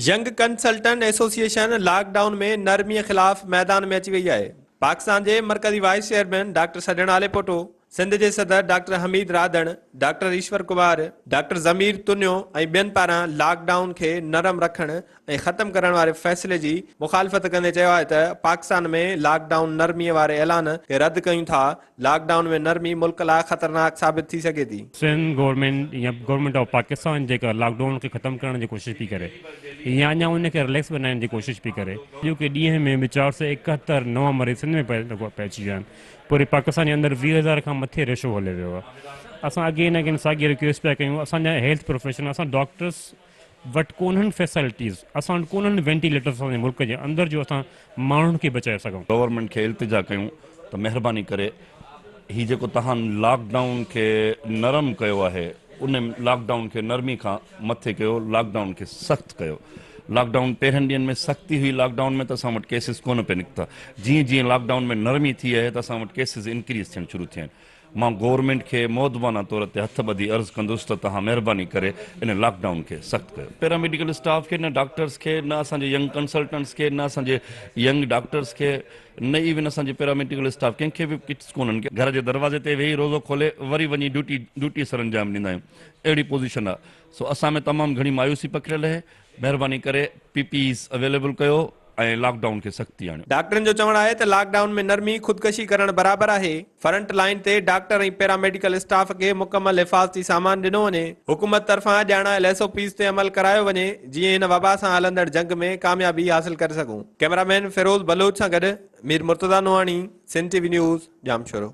Young consultant association lockdown ۾ نرمي خلاف ميدان ۾ اچي وئي آهي، پاڪستان جي مرڪزي vice chairman doctor Sajjan Alipoto, Sindh جي صدر doctor Hameed Radhan, doctor Ishwar Kumar, doctor Zameer Tunio ۽ ٻين پاران لاڪ ڊائون کي نرم رکڻ ۽ ختم ڪرڻ واري فيصلي جي مخالفت ڪندي چيو آهي ته پاڪستان ۾ لاڪ ڊائون نرمي واري اعلان کي رد ڪيون ٿا، لاڪ ڊائون ۾ نرمي ملڪ لاء خطرناڪ ثابت ٿي سگهي ٿي. سنڌ گورنمينٽ يا گورنمينٽ آف پاڪستان جيڪا لاڪ ڊائون کي ختم ڪرڻ جي ڪوشش پئي ڪري يا اڃا ان کي رليڪس بنائڻ جي ڪوشش پئي ڪري. اڄوڪي ڏينهن ۾ به چار سؤ ايڪهتر نوان مريض سنڌ ۾ پئي اچي ويا آهن. پوري پاڪستان جي اندر ويهه هزار کان مٿي ريشو هلي ويو آهي. اسان اگين اگين ساڳي رڪويسٽ پيا ڪيون اسان جا هيلٿ پروفيشنل اسان ڊاڪٽرس وٽ ڪونهن فيسلٽيز اسان وٽ ڪونهن وينٽيليٽرز اسان جي ملڪ جي اندر جو اسان ماڻهن کي بچائي سگهون. گورنمينٽ کي التجا ڪيون ته مهرباني ڪري هي جيڪو توهان لاڪ ڊائون کي نرم ڪيو آهي ان لاڪ ڊائون کي نرمي کان مٿي ڪيو لاڪ ڊائون کي سخت ڪيو لاڪ ڊائون پهرين ڏينهن ۾ سختي هئي لاڪ ڊائون ۾ ته اسان وٽ ڪيسز ڪونه پئي نڪتا جيئن جيئن لاڪ ڊائون ۾ نرمي ٿي اهي ته اسان وٽ ڪيسز انڪريز ٿيڻ شروع ٿيا آهن مان گورنمينٽ کي مؤدبانه طور تي هٿ ٻڌي عرض ڪندس ته توهان مهرباني ڪري ان لاڪ ڊائون کي سخت ڪيو. پيراميڊيڪل اسٽاف کي، نه ڊاڪٽرز کي، نه اسان جي ينگ ڪنسلٽنٽس کي، نه اسان جي ينگ ڊاڪٽرز کي، نه ايون اسان جي پيراميڊيڪل اسٽاف ڪنهن کي به ڪٽس ڪونهن. گهر جي دروازي تي ويهي روزو کولي وري وڃي ڊيوٽي ڊيوٽي سرانجام ڏيندا آهيون. اهڙي پوزيشن آهي. سو اسان ۾ تمام گهڻي مايوسي پکڙيل اهي. مهرباني ڪري پي پي ايز اويليبل ڪيو ۽ لاڪ ڊائون کي سختي آڻيو. ڊاڪٽرن جو چوڻ آهي ته لاڪ ڊائون ۾ نرمي خودڪشي ڪرڻ برابر آهي، فرنٽ لائين تي ڊاڪٽر ۽ پيراميڊيڪل اسٽاف کي مڪمل حفاظتي سامان ڏنو وڃي، حڪومت طرفان ڄاڻايل ايس او پيز تي عمل ڪرايو وڃي جيئن هن وبا سان هلندڙ جنگ ۾ ڪاميابي حاصل ڪري سگهون. ڪئميرا مين فيروز بلوچ سان گڏ مير مرتضيٰ نوحاڻي، سنڌ ٽي وي نيوز، ڄامشورو.